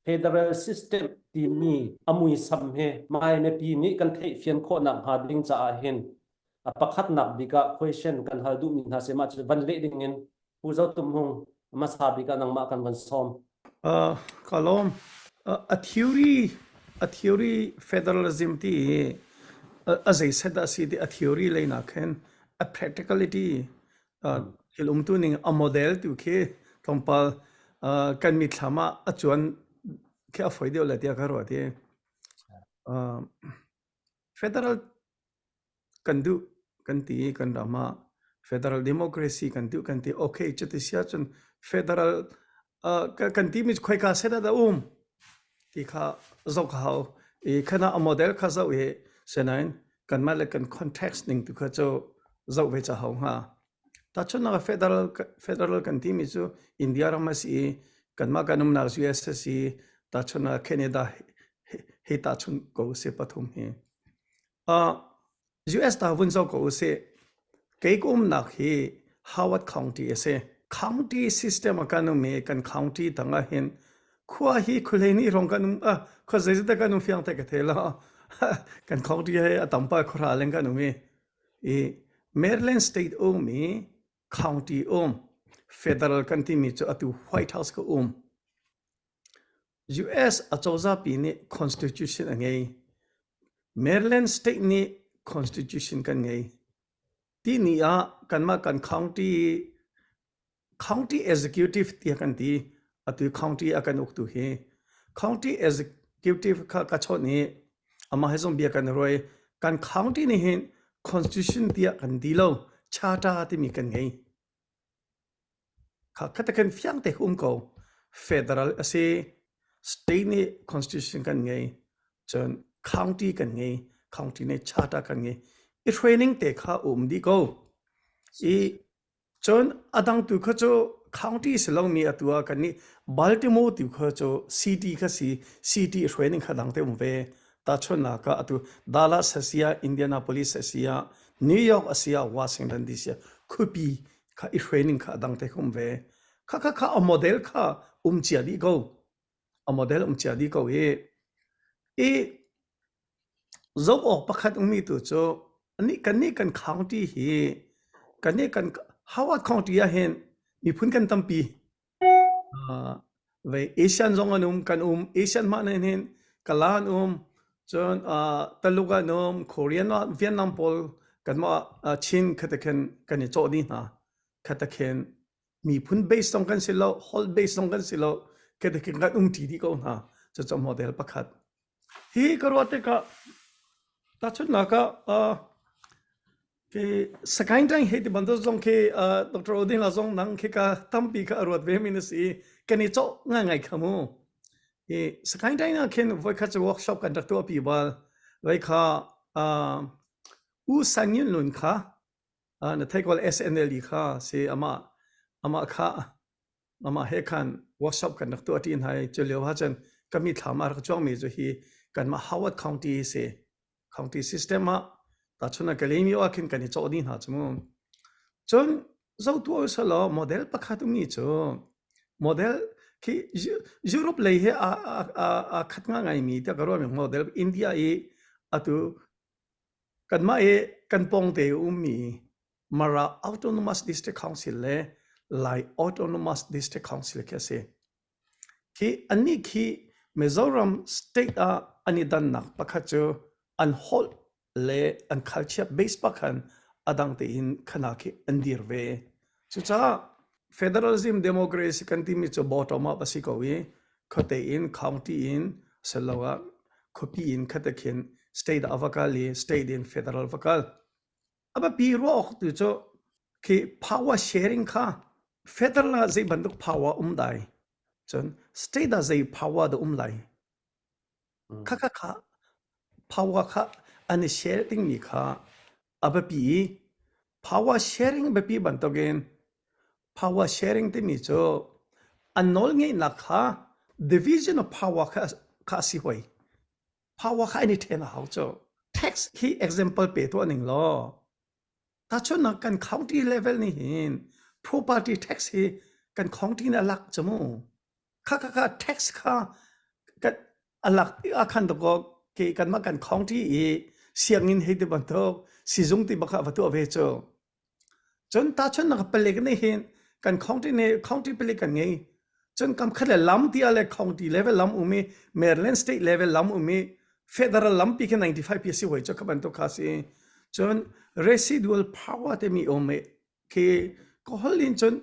Federal System timi a muisam he maimipi nih kan theihfian khawhnak hnga ding caah hin a pakhatnak bik ah question kan hal duhmi hna seh mah cu van leh ding in Pu Zo Tum Hmung hmasa bik ah nangmah kan van sawm. Uh, ka lawm. Uh, a theory a theory federalism ti hi uh, a zei set a si ti a theory lei nak hen a practicality thil umtu ning a model tu khi thawngpal kan mitthlam ah a cuan khi a foi deuh le tiah ka ruat i federal kan duh kan ti kan ram ah federal democracy kan duh kan ti okay cuti sia cun federal kan ti mi khoika set ah dah um ti kha zoh ka hau i khana a model kha zoh i sinain kanmah le kan context ning tu kha cu zoh ve ca hau hnga tachunnak federal federal kan ti mi cu india ram a si i kanmah kan umnak uss i tachunnak canada hi tachun ko si pathum hi uh, US ta vun zo ko u si kei ka umnak hi Howard County a si county system a kan um i kan county dang ah hin khua hi khulei ni rong kan um a khua zei zete kan um fiang te ka the la kan county he a tampa khora leng kan um i i Maryland state um mi county um federal kan ti mi chu atu White House ka um US acozapi nih constitution a ngei. Maryland state nih constitution kan ngei. Ti ni ah kanmah kan county county executive tia kan ti atu county a kan uk tu hi county executive kha ka chon i amah he zong bia kan roi kan county ni hin constitution tia kan di lo charter timi kan ngei Kha te khan fiang te um ko. Federal a si. State nih constitution kan ngei. Cun county kan ngei. County nih charter kan ngei. I training te kha um dih ko. I cun a dang tu kha cu county si lomi atu ah kan nih Baltimore tu kha cu city kha si. City training kha dang te um ve. Tahchunhnak ah atu Dallas a si ah Indianapolis a si ah New York a si ah Washington DC ah khuapi kha i training kha a dang te um ve kha kha kha a model kha um cia dih ko a model um cia dih ko i i zoh awk pakhat ummi tu cu nih kan nih kan county hi kan nih kan howard county ah hin miphun kan tampi Ah, vei Asian zong an um, kan um. Asian hmah nih hin kala an um. Cun ah, Taluk an um, Korean ah Vietnam pawl kanmah ah Chin khatakhin kan i cawh dih hna. Khatakhin miphun base zong kan si lo, holh base zong kan si lo, khatakhin kan um ṭi dih ko hna. Cucun model pakhat. Hi ka ruah tikah tahchunhnak ah uh, ke sakaing ṭang hei ti bantuk zong khi uh, Dr. Odinga zong nang khi ka tampi kha a ruat ve mi na si i kan i cawh ngai ngai kha mu. Hi sakaing ṭang na khin voikhat cu workshop kan rak tuah pi bal. Vai kha uh, U Sang Yun Lun kha uh, na theikol SNL kha si amah amah kha Amah he khan workshop kan rak tuah ṭi hna i cu lio ahcun ka mithlam ah rak cuangmi cu hi kanmah Howard County a si. County system ah tahchun a kalaymyo ah khin kan i cawh dih hna cu mu. Cun zohtuah usih law model pakhat ummi cu model khi Europe lei he aa aa- aa khat nga ngaimi tiah ka ruahmi model India i atu kanmah i kan pawngte ummi Mara Autonomous District Council le Lai Autonomous District Council khi a si. Khi anih khi Mizoram state ah an i dannak pakhat cu an holh le an culture base pakhan adang tein khana khi an dir ve. Cucaah federalism democracy kan timi cu bottom up a si ko i khote in county in siloah khuapi in khate khin state ah va kal i state in federal va kal. A biapi ruah awk tu cu khi power sharing kha federal ah zei bantuk power a um dai, cun state ah zei power dah um lai. Khakha kha power kha an i share dingmi kha a biapi i power sharing biapi bantukin power sharing timi cu an nawl ngeihnak kha division of power kha, kha a si hoi. power kha an i then a hau cu tax hi example pe tuah ning law tachun kan county level ni hin property tax hi kan county na lak chamu kha kha kha tax kha kan alak akhan to ko ke kan ma kan county i siangin hei ti bantuk sizung ti baka vatu ave chu Cun tahchunh na ka palik nih hin kan khawngṭi ne khawngṭi palik kan ngei. Cun kamkhat le lam ti ah le khawngṭi level lam um i Maryland state level lam um i federal lam pi khi 95 pi a si hoi cu kha bantuk kha a si. Cun residual power timi um i khi ka holh in cun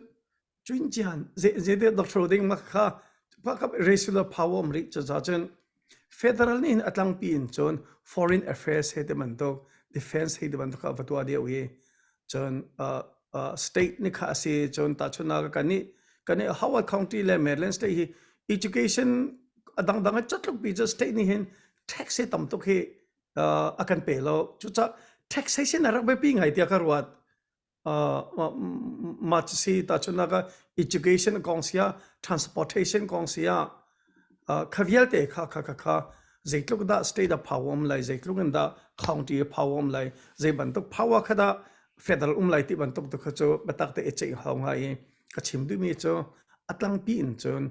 Cuin cian zeite doctor ding ma kha pakap regular power um rih caza cun federal nih a tlangpi in cun foreign affairs he te bantuk defense he te bantuk a fatua dia wi cun state ni kha asi cun ta chuna ka kan ni kan ni Howard County le Maryland state hi education a dangdang a chatluk pi cu state ni hin tax he tam tuk hi a kan pe lo cucak tax he sin a rak be pi ngai tia ka ruat uh, mah cu si ta chun naga education kong sia transportation kong sia kha vialte kha kha kha kha zeitluk da state of power um lai zeitluk in da county power um lai zei bantuk power kha da federal um lai ti bantuk tu kha chu batak te echei hau ngai ka chim du mi chu atlang pi in chun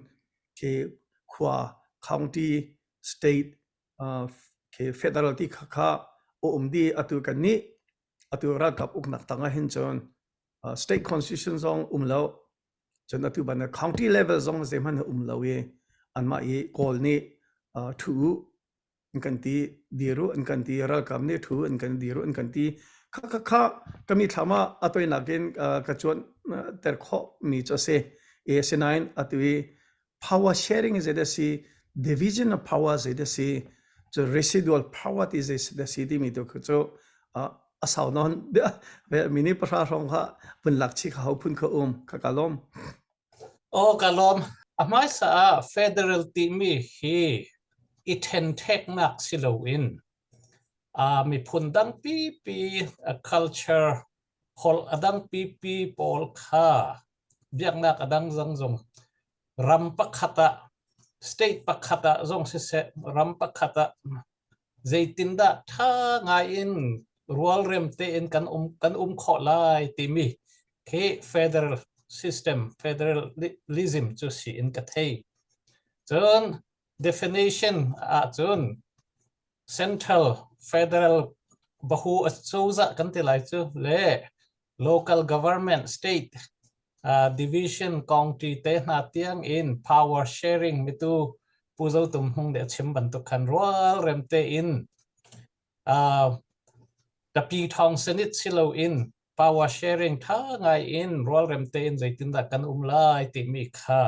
ke khwa county state ke federal ti kha kha o um di atu kan ni Atu ralkap uknak tang ah hin cun state constitution zong um lo cun atu ban county level zong zeihmanh a um lo i anmah i kawl nih thu an kan ti diru an kan ti ralkap nih thu an kan diru an kan ti kha kha kha kami thlam ah atoi nakin ka chuan ter khawh mi cu si asinain atu i power sharing zei dah si division of power zei dah si cu residual power ti zei dah si timi tu khu cu a sau non mini pahra hrawng kha pun lak chi kha hau phun kha um kha ka lom o ka lom a hmaisa ah federal timi hi i thentheknak si loin a miphun dang pipi a culture holh a dang pipi pawl kha biaknak a dang zong zong ram pakhat ah state pakhat ah zong siseh ram pakhat ah zeitindah ṭha ngaiin rualrem tein kan um kan um khawh lai timi khi federal system federalism cu si in ka thei cun Definition ahcun central, federal, bahu acozah kan ti lai cu le local government, state uh, division kongṭi te hna tiang in power sharing mitu Pu Zo Tum Hmung nih a chim bantuk khan rualrem tein ka pi thawng sin it si loin power sharing ṭha ngaiin rualrem tein zeitindah kan um lai timi kha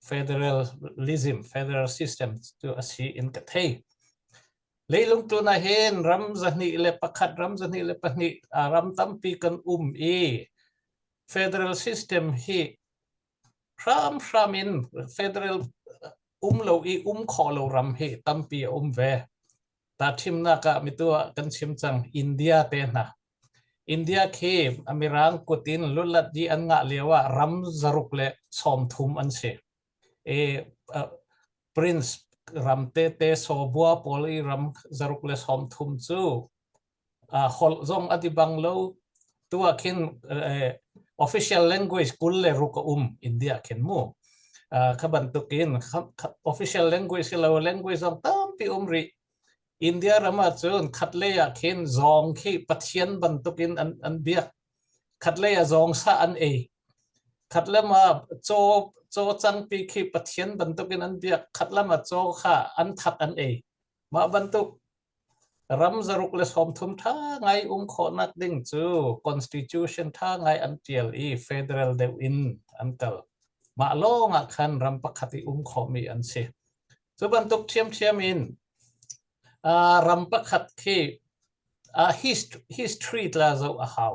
federalism, federal system cu a si in ka thei. Leilung tun ah hin ram zahnih le pakhat, ram zahnih le pahnih ram tampi kan um i federal system hi hram hram in federal um lo i um khawh lo ram hi tampi a um ve. Tahṭhimnak ah mitu ah kan chim cang. India te hna. India khi a mirang kut in lulat i an ngah lio ah ram zaruk le sawmthum an si. E, uh, prince ram tete sawbua pawl i ram zaruk le sawmthum cu uh, holh zong a ti bang lo tu ah khin uh, official language kul le ruk a um India khin mu uh, kha bantuk in official language hi lo language zong tampi um ri India rama cun khat le ah khin zong khi pathian bantuk in an an biak khat le a zong sa an ei khat lama cho cho chang pi khi pathian bantuk in an biak khat lama cho kha an that an ei ma bantuk Ram zaruk le sawmthum ṭha ngai um khawhnak ding cu constitution ṭha ngai an ṭial i federal deuh in an kal. Mah lawng ah khan ram pakhat i um khawhmi an si. Cu bantuk ṭhiamṭhiam in ram pakhat khi history tla zoh a hau.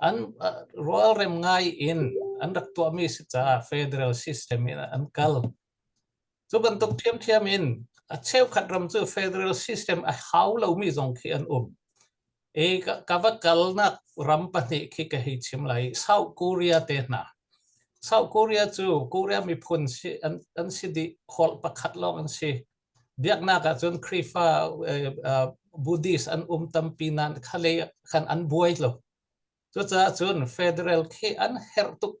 an rualrem ngai in an rak tuahmi si caah federal system in an kal. Cu bantuk ṭhiamṭhiam in a cheukhat ram cu federal system a hau lomi zong khi an um. E ka va kalnak ram pahnih khi ka hei chim lai. South Korea te hna. South Korea cu Korea miphun si an, an si dih khol pakhat lawng an si. biaknak ah cun Khrihfa Buddhist an um tampi nain khalei khan an buai lo. Cucaah cun federal khi an herh tuk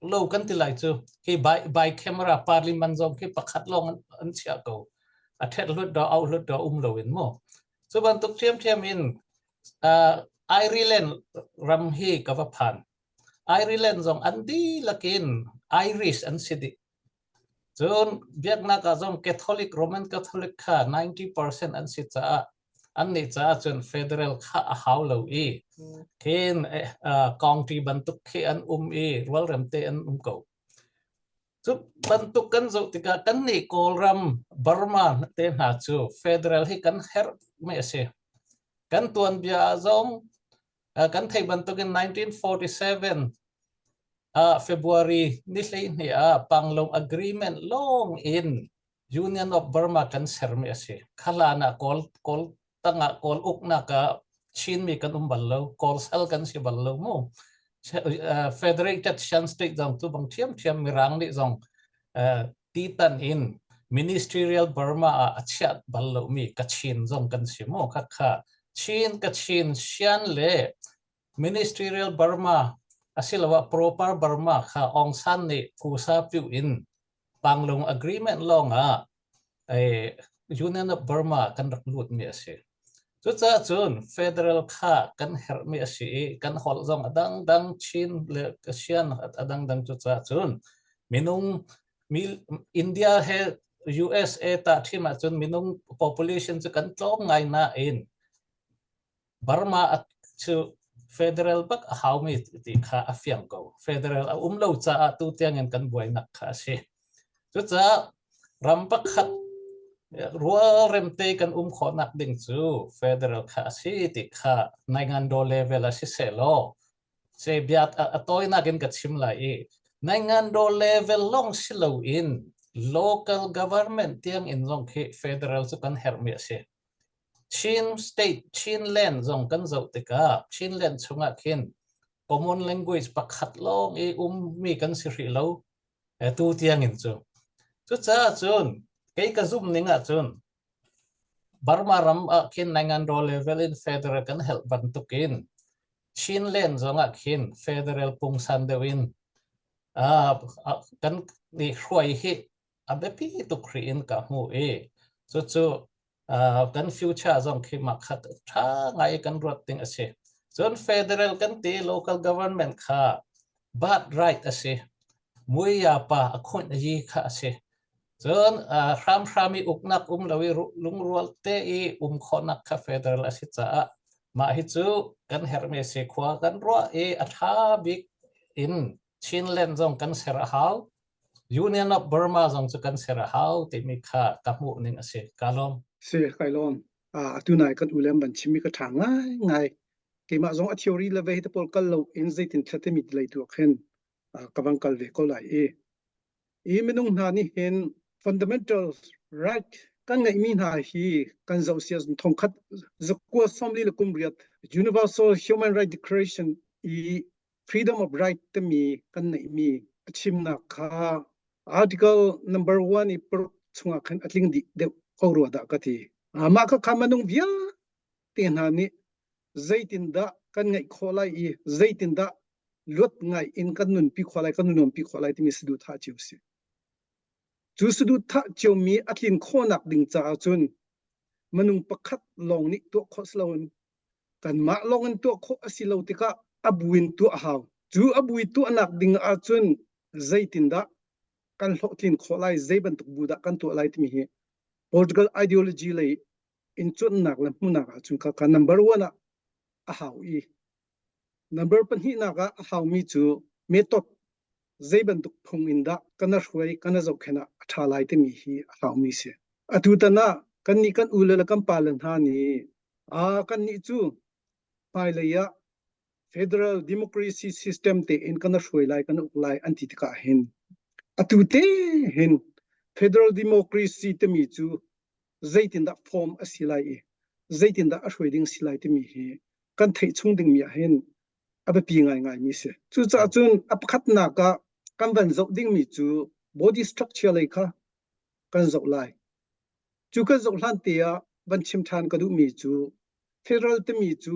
lo kan ti lai cu. Hi by, by camera parliament zong khi pakhat lawng an, an chia ko. A thet hlut do au hlut do um lo in mu. Cu bantuk ṭhiamṭhiam in uh, Ireland ram hi ka va phan. Ireland zong an dilakin Irish an si dih. Cun biaknak ah cun Catholic Roman Catholic kha 90% an si caah annih caah cun federal kha a hau lo i hin kongṭi bantuk khi an um i rualremte an um ko. Cu bantuk kan zoh tikah kannih Kawlram Burma te hna cu federal hi kan herh mi a si. Kan tuanbia ah zong kan theih bantukin 1947 uh, February ni hleihnih ah Panglong agreement long in Union of Burma kan sermi asi khalana kawl kawl tanga kawl ukna ka Chinmi kan um bal lo kawl sal kan si bal lo mu uh, federated shan state zong tu bang thiam thiam mirang ni zong uh, Titan in ministerial Burma ah a chiat bal lomi Kachin zong kan si mu khakha. Chin Kachin sian le ministerial Burma asiloah proper Burma kha Aung San nih kusa piu in Panglong agreement lawng ah eh, Union of Burma kan rak lutmi a si. Cucaah cun federal kha kan herhmi a si i kan holh zong a dangdang Chin le Asian a dangdang cucaah cun minung India he USA tahṭim ahcun minung population cu kan tlawm ngai nain Burma cu federal bak a haumi ti kha a fiang ko. Federal a um lo caah tutiang in kan buainak kha a si. Cucaah ram pakhat rualremte kan um khawhnak ding cu federal kha a si ti kha Naingandaw level ah siseh law cebiat a tawinak in ka chim lai i Naingandaw level lawng si loin local government tiang in zong khi federal cu kan herhmi a si. Chin state, Chinland zong kan zoh tikah Chinland chungah khin common language pakhat lawng i ummi kan si hrih lo. Atu tiangin cu. Cucaah cun kei ka zumh ning ahcun Burma ram ah khin Nanganraw level in federal kan helh bantukin Chin len zongah khin federal pungsan deuh in uh, kan nih hruai hi a biapi tuk ri in ka hmu i cucu Uh, kan future zong khi mah kha ṭha ngai kan ruat ding a si. Cun federal kan ti local government kha birthright a si. Muia pa a khunh yi kha a si. Cun uh, hram hram i uknak um lo i lungrual te i um khonak kha federal a si caah mah hi cu kan herme se khua kan ruah i a ṭha bik in Chinland zong kan ser a hau. Union of Burma zong cu kan ser a hau timi kha ka hmuh ning a si. Ka lawm. Si, kai lawm. Atu nai kan ulem ban chimi ka tha ngai ngai. Keimah zong a theory le ve te pol kal lo in zeitin thlate mi lei tu khen ka bang kal ve ko lai i. I minung hna nih hin fundamental right kan ngeih mi hna hi kan zoh sia thong khat zakua somli le kum riat universal human right declaration i freedom of right timi kan neihmi a chimnak kha article number one i paruk chungah khan a tling dih deuh ko rua dah ka ti mah kha kha manung vialte hna nih zeitindah kan ngaih khawh lai i zeitindah luat ngai in kan nunpi khawh lai kan nuampi khawh lai timi saduthah cio si cu saduthah ciomi a tlin khawhnak ding caah cun manung pakhat lawng nih tuah khawh si loin kanmah lawng in tuah khawh a si lo tikah a bu in tuah a hau. Cu a bu i tuahnak ding ahcun zeitindah kan hlawhtlin khawh lai, zei bantuk bu dah kan tuah lai timi hi political ideology lei in cuannak le hmunak ahcun kha ka number one ah a hau i number pahnihnak ah a haumi cu method zei bantuk phung in dah kan hruai kan zohkhen ah a ṭha lai timi hi a hlaumi si. Atu tan ah kannih kan u le le kan pale hna nih a kannih cu hmailei ah federal democracy system tein kan hruai lai kan uk lai an ti tikah hin atu te hin federal democracy timi cu zeitindah form a si lai i zeitindah a hruai ding si lai timi hi kan theih chung dingmi ah hin a biapi ngaingaimi si. Cucaah cun a pakhatnak ah kan van zoh dingmi cu body structure lei kha kan zoh lai. Cu kan zoh hlan te ah van chim ṭhan ka duhmi cu federal timi cu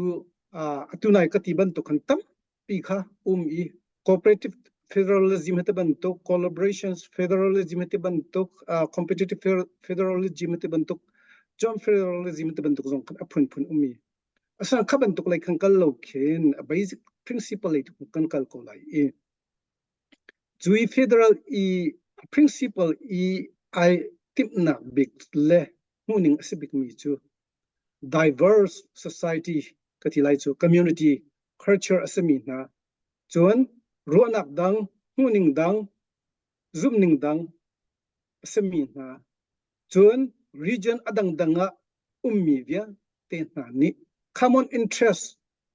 atu nai ka ti bantuk khan tampi kha um i cooperative federalism hati bantuk collaborations federalism hati bantuk competitive federalism hati bantuk joint federalism hati bantuk zong khan a phunphun um i Asa kha bantuk lei kan kal lo khin a basic principle lei tu kan kal ko lai i cui federal i principle i ai timnak bik le hmuhning a si bik mi cu diverse society ka ti lai cu community culture a sami hna cun ruahnak dang hmuhning dang zumning dang a sami hna Cun region a dangdang ah ummi vialte hna nih common interest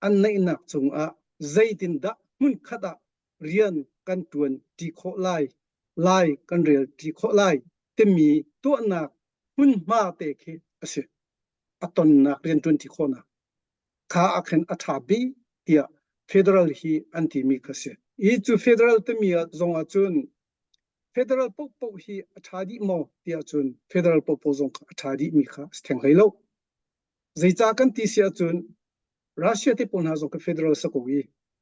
an neihnak cungah zeitindah hmunkhat ah rian kan ṭuanṭi khawh lai, lai kan relṭi khawh lai timi tuahnak hmunhma te khi a si. A tonnak rian ṭuanṭi khawhnak kha a khin a ṭha bik tiah federal hi an timi kha a si. Hi cu federal timi zongah cun Federal pohpoh hi a ṭha dih maw tiah cun federal pohpoh zong kha a ṭha dihmi kha si theng hlei lo. Zeicah kan ti si ahcun Russia te pawl hna zong ka federal si ko i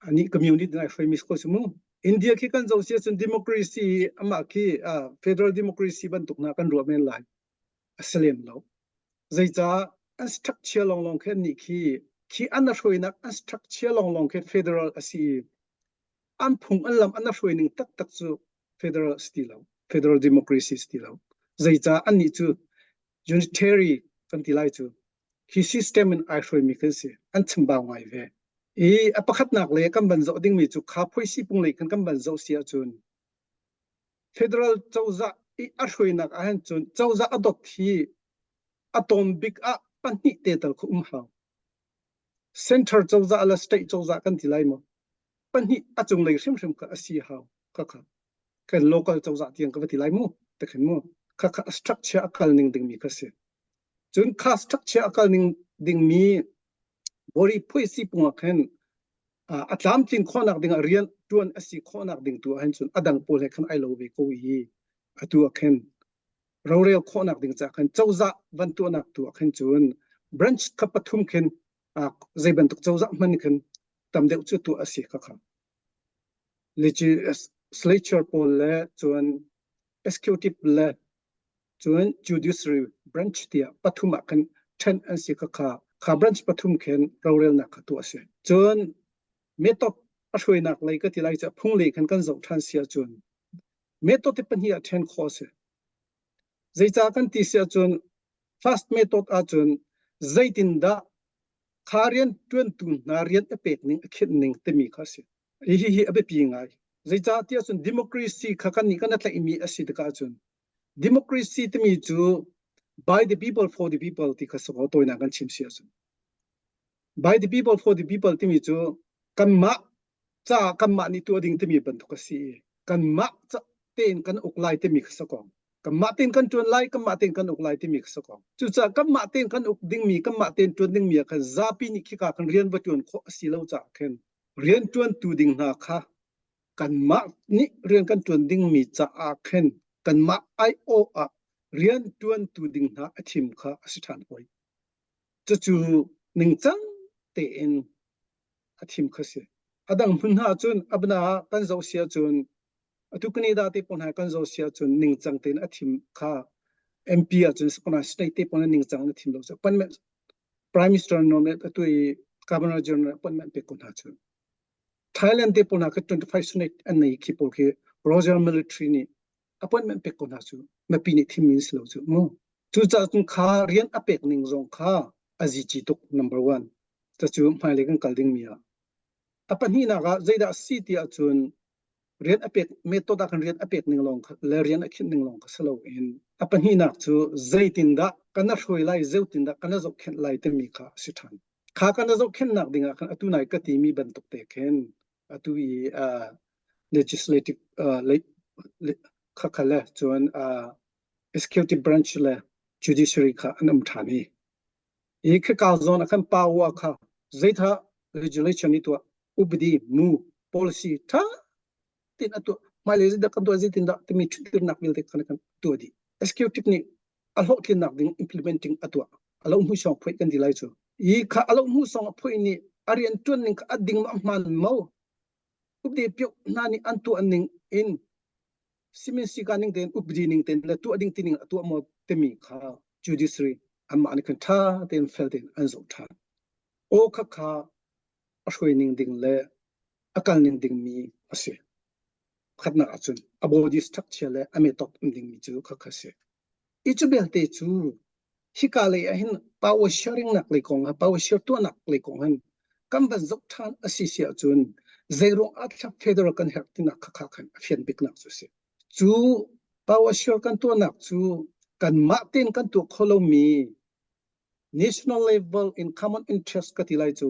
anih community nai hruaimi si ko si mu. India khi kan zoh si ahcun democracy i amah khi uh, federal democracy bantuk na kan ruah men lai a si lem lo. Zeicah an structure lawnglawng khe nih khi khi an a hruainak an structure lawnglawng khe federal a si i an phung an lam an hruai ning taktak cu federal si ti lo federal democracy si ti lo zeicah annih cu unitary kan ti lai cu hi system in ai hruai mi kan si an chambau ngai ve i a pakhatnak le kan ban zoh ding mi cu kha phoisi pung lei kan kan ban zoh si ahcun federal cozah i a hruainak ahhin cun cozah a dot hi a tom bik ah pahnih te tal khu um hau Center cozah le state cozah kan ti lai maw? Pahnih a cunglei hrimhrim kha a si hau. Khakha kan local cozah tiang ka va ti lai mu. Te khin mu. Khakha a structure a kal ning dingmi kha si. Cun kha structure a kal ning dingmi bori phui si pungah khin a tlamtlin khawhnak dingah rian tuan a si khawhnak ding tu ahhin cun a dang pawl he khan ai lo ve ko i atu ah khin rorel khawhnak ding ca khan cozah van tuahnak tu ah khan cun branch kha pathum khin zei bantuk cozah hman khin tam deuh cu tuah a si ka kha legislature pawl le cun executive le cun judiciary branch tiah pathum ah khan ṭhen an si ka kha kha branch pathum khin rorelnak kha tuah a si cun metop a hruainak lei ka ti lai cu phung le khan kan zoh ṭhan sia cun method pahnih ah ṭhen khawh a si. Zeicah kan ti si ahcun first method ahcun zeitindah kha rianṭuantu hna rian a pek ning a khinh ning timi kha a si. Hihi hi a biapi ngai. Zeicah ti ahcun democracy kha kan nih kan i tlaihmi a si tikah cun democracy timi cu by the people for the people ti kha si kaw tawinak kan chim si ahcun by the people for the people timi cu kanmah ca kanmah nih tuah ding timi bantuk a si i kanmah tein kan uk lai timi kha sakong kanmah tein kan ṭuan lai kanmah tein kan uk lai timi kha sakong cucaah kanmah tein kan uk dingmi kanmah tein ṭuan dingmi ah khan zapi nih khika kan rian va ṭuan khawh a si lo caah khin rian ṭuantu ding hna kha kanmah nih rian kan ṭuan dingmi caah khin kanmah aiawh ah rian ṭuantu ding hna a thim kha a si ṭhan hoi. Cucu ningcang tein a thim kha si. A dang hmun hna cun abna ah kan zoh sia cun atu kani da te pon hai kan zo sia cun ningcang tein a thim kha MP ah cun sakona state te pon ningcang na thim lo sa pan men prime minister no met atu i governor general pon men pe ko hna cun Thailand te pon ha ka 25 senate an nei khi pol khi Royal military ni appointment pek ko hna cu mipi nih thim in si lo cu mu cucaah cun kha rian a pek ning zong kha a zici tuk number one cu hmailei kan kal dingmi ah a pahnihnak ah zeidah si ti ahcun rian a pek method ah khan rian a pek ning lawng kha le rian a khinh ning lawng kha si lo in a pahnihnak cu zeitindah kana hruai lai zeutindah kana zohkhenh lai timi kha a si ṭhan kha kana zohkhenhnak ding ah khan atu nai ka timi bantuk te khin Atu i uh, legislative uh, le, le, kha kha le chuan uh, executive branch le judiciary kha an um than hi hi kha ka zon khan pa wa kha zeitha legislation ni to ubdi mu policy tha tin atu mai le zida kan to zitin da timi thutir nak bil te kan kan to di executive ni a hlawhtlinnak ding implement ding a tuah a lo hnu song phoih kan di lai cu i kha a lo hnu song a phoih ni a rian tuan ning kha a ding ma hman mo upde pyok hna ning an tu an ning in simin sika ning ten updi ning ten la tu ding tining atu mo te mi kha judiciary amma ni kan tha ten fel ten an zo tha o kha kha a shui ning ding le akal ning ding mi asi pakhatnak ah cun a body structure le a metawk um dingmi cu kha kha si i cu belte cu hika lei ah hin power sharing nak lei kong ha power share tuanak lei kong hin kan van zok ṭhan a si si ahcun zeiruang ah thlap federal kan herh tinak kha kha khan a fian biknak cu si cu power share kan tuanak cu kan mah ten kan tuah kho lomi national level in common interest ka ti lai cu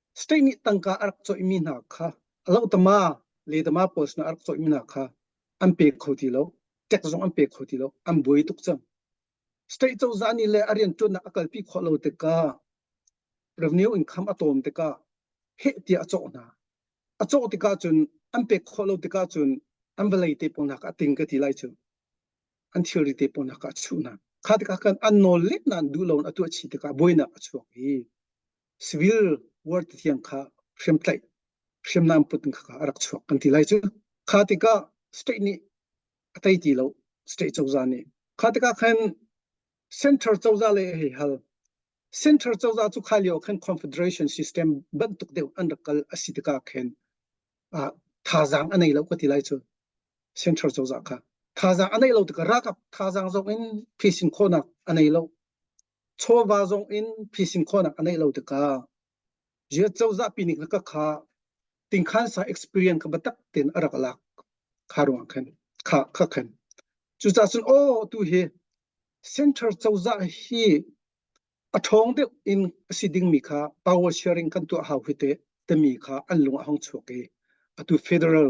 State nih tangka a rak cawihmi hna kha a lohtama ledama pawl sinah a rak cawihmi hna kha an pek kho ti lo. Tax zong an pek kho ti lo. An buai tuk cang. State cozah nih le a riantuannak a kalpi khawh lo tikah revenue income a tawm tikah heh tiah a cawh hna. A cawh tikah cun an pek khawh lo tikah cun an vawlei te pawl hna kha a ting ka ti lai cu. An thilri te pawl hna kha a chuh hna. Kha tikah khan an nawl let nain duh loin a tuah chih tikah buainak a chuak i civil war tithiang kha hriamtlaih hriamnam put kha a rak chuak kan ti lai cu kha tikah state nih a tei ti lo state cozah nih kha tikah khan center cozah le hei hal center cozah cu kha lio khan confederation system bantuk deuh an rak kal asi tikah khan thazaang a nei lo ka ti lai cu center cozah kha thazaang a nei lo tikah rakap thazaang zong in phisin khawnak a nei lo chawva zong in phisin khawhnak a neih lo tikah ziat cozah pi nih ka kha tingkhan sa experience ka batak ten a rak lak kha ruang khan kha kha khan cucah sun o tu hi center cozah hi a thong deuh in si ding mi kha power sharing kan tu hau hi te te mi kha an lung a hong chuak i atu federal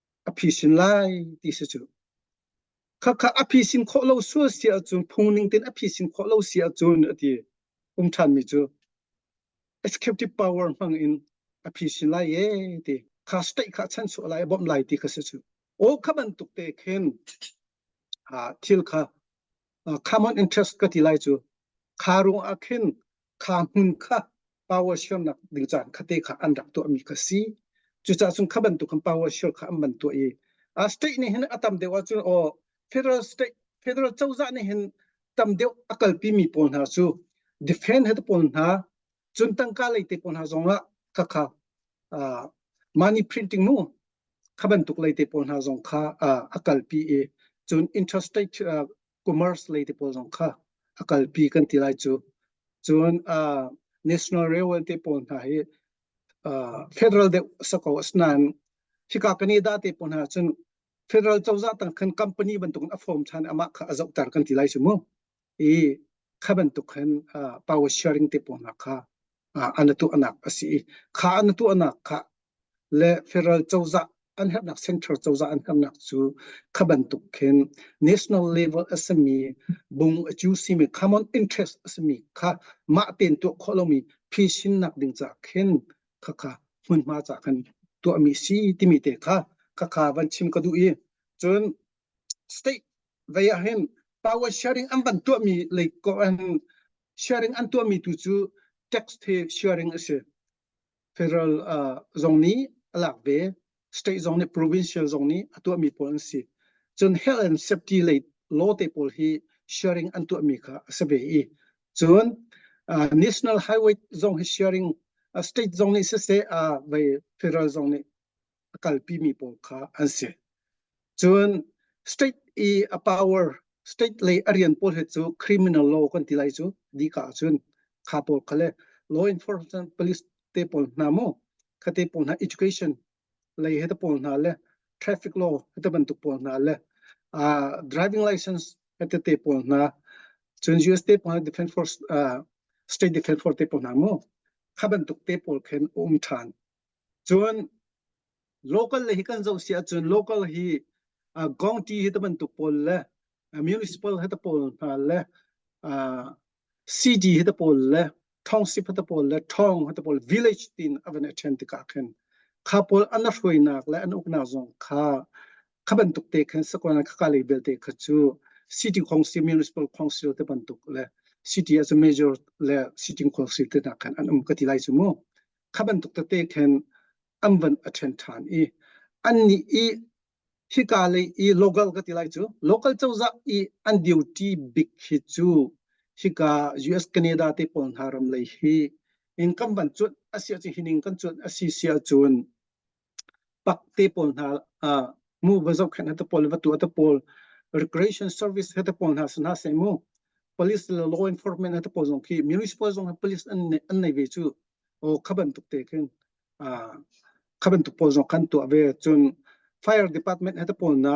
a phi sin lai ti si cu khakha a phi sin khawh lo sual si ahcun phungning tin a phi sin khawh lo si ahcun a ti um ṭhan mi cu executive power hmang in a phi sin lai ye ti kha state kha chan suah lai bawmh lai ti kha si cu o kha bantuk te khin thil kha common interest ka ti lai cu kha ruang ah khin kha hmun kha power siarnak ding caan khate kha an rak tuahmi kha si cucah cun kha bantuk khan power share kha an man tuah i a state nih hin a tam deuh ahcun o federal state federal cozah nih hin tam deuh a kalpi mi pawl hna cu defend he pawl hna cun tangka lei te pawl hna zong ah khakha money printing mu kha bantuk lei te pawl hna zong kha a kalpi i cun interstate commerce lei te pawl zong kha a kalpi kan ti lai cu cun national railway te pawl hna hi federal de sako asnan hika canada te pawl hna cun federal cozah tang khan company bantuk a form than amah kha a zohtar kan ti lai su mu i kha bantuk khan power sharing te ponak kha an tuahnak a si i kha an tuahnak kha le federal cozah an herhnak central cozah an herhnak cu kha bantuk khin national level a sami bung a cu simi common interest a sami kha mah ten tuah khawh lomi phisinnak ding ca khin khakha hmunhma ca khan tuahmi si timi te kha khakha van chim ka duh i cun state vei ah hin power sharing an van tuah mi lei ko an sharing an tuah mi tu cu tax the sharing a si federal uh, zong nih a lak ve state zong nih provincial zong nih a tuah mi pawl an si cun health and safety lei law te pawl hi sharing an tuah mi kha a se ve i cun uh, national highway zong hi sharing uh, state zong nih siseh uh, vei federal zong nih a kalpimi pawl kha an si. Cun state i a power state lei a rian pawl he cu criminal law kan ti lai cu di ka cun kha pawl kha le law enforcement police te pawl hna mu khate pawl hna education lei he pawl hna le traffic law he bantuk pawl hna le uh, driving license he te pawl hna cun US te pawl defense force uh, state defense force te pawl hna mu kha bantuk te pawl khen um than Cun local le hi kan zoh si ahcun local hi uh, county hi ta bantuk pawl le uh, municipal hi ta pawl hna le uh, city hi ta pawl le township hi ta pawl le town hi ta pawl village tin avan a then tikah khin kha pawl an la hruainak le an uknak zong kha kha bantuk te khan sakona kha kalei belte kha chu city council municipal council te bantuk le city as a major le sitting council te na khan an um ka ti lai chu mu kha bantuk tete khen an van a ṭhen ṭhan i an nih i hika lei i local ka ti lai cu local cozah i an duty bik hi cu hika US Canada te pawl hna ram lei hi in kan van cuanh a sia ci hining kan cuanh a si sia cun pak te pawl hna uh, mu va zok khan ta pawl va tu ta pawl recreation service hata pawl hna sana se mu police le law enforcement hata pawl zong khi municipal zong police an an nei ve chu o khaban tuk te khin a khaban tuk pawl zong kan tu ve chun fire department hata pawl na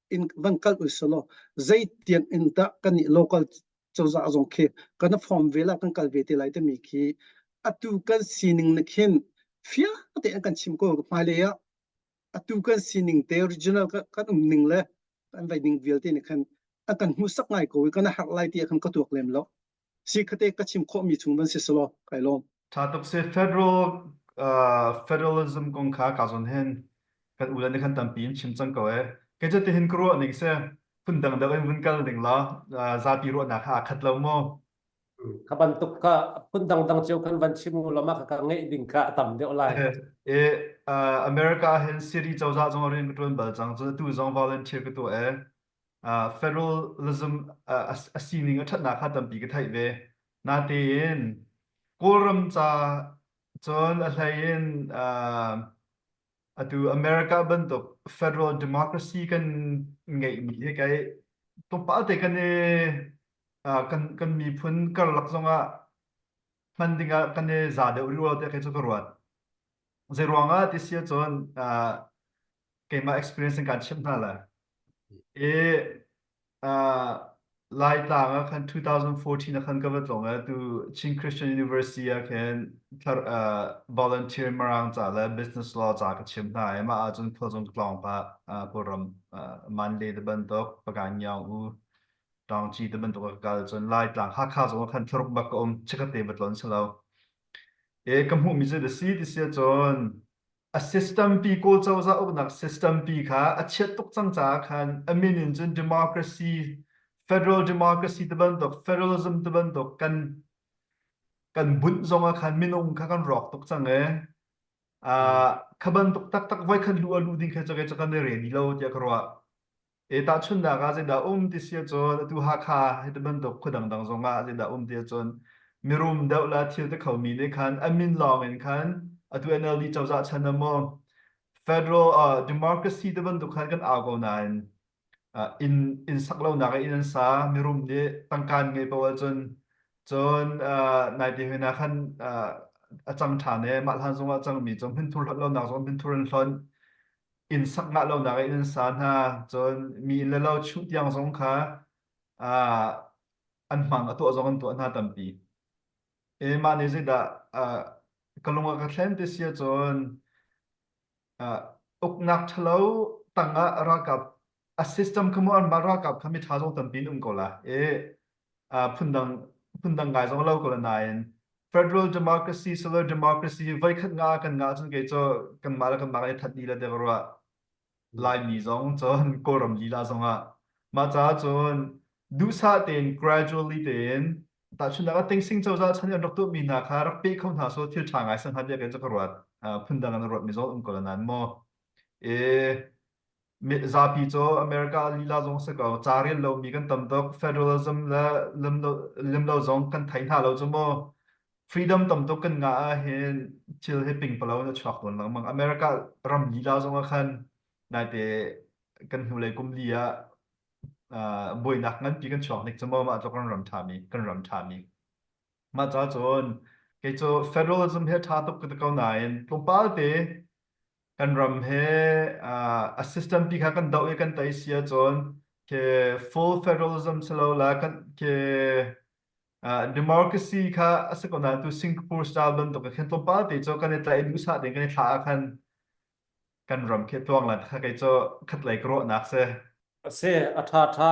in van kal u selaw zei tiang in dah kan nih local cozah zong khi kan form ve la kan kal ve te lai te mi khi atu kan sining na khin fia te kan chim ko hmai le ya atu kan sining te original kan um ning le kan vai ning vialte ne khan akan hmusak ngai ko kan har lai ti kan ka tuak lem lo si khate ka chim khawhmi chung van si selaw kai lawm. Tha tuk se federal uh, federalism kong kha ka zon hen kan u le ne kan tampi in chim cang ko e ke je te hin ka ruah ning se phun dang dang in vun kal ning la zapi ruah na kha khat lo mo ka bantuk ka phun dang dang cheu kan van chim lo ma ka nge ding ka tam deuh lai e america hen siri chawza zong rin ka tuan bal chang chu tu zong volunteer ka tu e uh, federalism uh, a sining a ṭhatnak kha tampi ka theih ve. Natein Kawlram ca cun a hleiin uh, atu America bantuk federal democracy kan ngeihmi hi kai tupalte kan i uh, kan kan miphun karlak zongah hman dingah kan i za deuh riual te kai cu ka ruat. Zeiruangah ti si ahcun uh, keimah experience in kaan chimh hna lai. I uh, Laitlang ah khan 2014 ah khan ka va tlawng ah tu Chin Christian University ah khin thar, uh, volunteer marang ca le business law ca ka chim hna i mah ahcun khuazung tlawng pa uh, Kawlram uh, Mande te bantuk Pagan Yaung U Tangci te bantuk a ka kal cun Laitlang Hakha zong ah khan tharuk bak ka um chikate batlon selo E ka hmuhmi cu a si ti si ahcun a system pi Kawl cozah uknak system pi kha a chiat tuk cang caah khan a min in cun democracy federal democracy ti bantuk federalism ti bantuk kan kan bunh zong ah khan minung kha kan rawk tuk cang e uh, kha bantuk taktak voi khan lu a lu ding kha cakei cak kan i ren i lo tiah ka ruah E tahchunhnak ah zeidah um ti si ahcun atu Hakha hi ti bantuk khua dangdang zong ah zeidah um ti ahcun mirum deuh le thil te kho mi nih khan an min lawng in khan atu NLD cozah chan ah maw federal uh, democracy te bantuk khan kan au ko nain uh, in in sak lonak in an sa mirum nih tangkan ngei po ahcun cun uh, nai ti hina khan uh, a cang ṭhan e mah hlan zong a cang mi cu hmin thur hlat lonak zong hmin thur an hlon inn sak ngah lonak in an sa hna. Cun mi inn le lo chung tiang zong kha ah, an hmang a tuah zong an tuah hna tampi. E mah nih zeidah ah, ka lung a ka thlen ti si ahcun ah, uknak ṭhalo tangah ralkap A system kha mu an van ralkap kha miṭha zong tampi an um ko la i uh, phundang phundang ngai zong lo ko la nain federal democracy solar democracy voikhat nga kan nga cun kei cu kanmah le kanmah kan i that ni le te ka ruah Laimi zong cun Kawlram lila zong ah mah caah cun duhsah tein gradually tein tahchunnak ah tengsing cozah chan an rak tuh mi hna kha rak pe kho hna so thil ṭha ngai san han bia kan cu ka ruat phundang an ruat mi zong um ko la nan mu i zapi cu America lila zong si ko ca rel lomi kan tam tuk federalism le lemlo zong kan thei hna lo cu maw freedom tam tuk kan nga ah hin thil hi pingpalo in a chuak tawn lengmang America ram lila zong ah khan naite kan hnulei kum li ah buainak nganpi kan chuak nik cu maw mah cu kan ram ṭhami kan ram ṭhami mah ca cun kei cu federalism he ṭha tuk ka ti ko nain tlawmpal te kan ram he uh, a system pi kha kan doh i kan tei si ahcun ke full federalism si lo la kan ke uh, democracy kha a si ko na tu Singapore style bantuk khan tlawmpal te cho kan i tlaih duh sa ding kan i thla khan kan ram khi tuang la kha kai cho khat lei kro nak se ase atha tha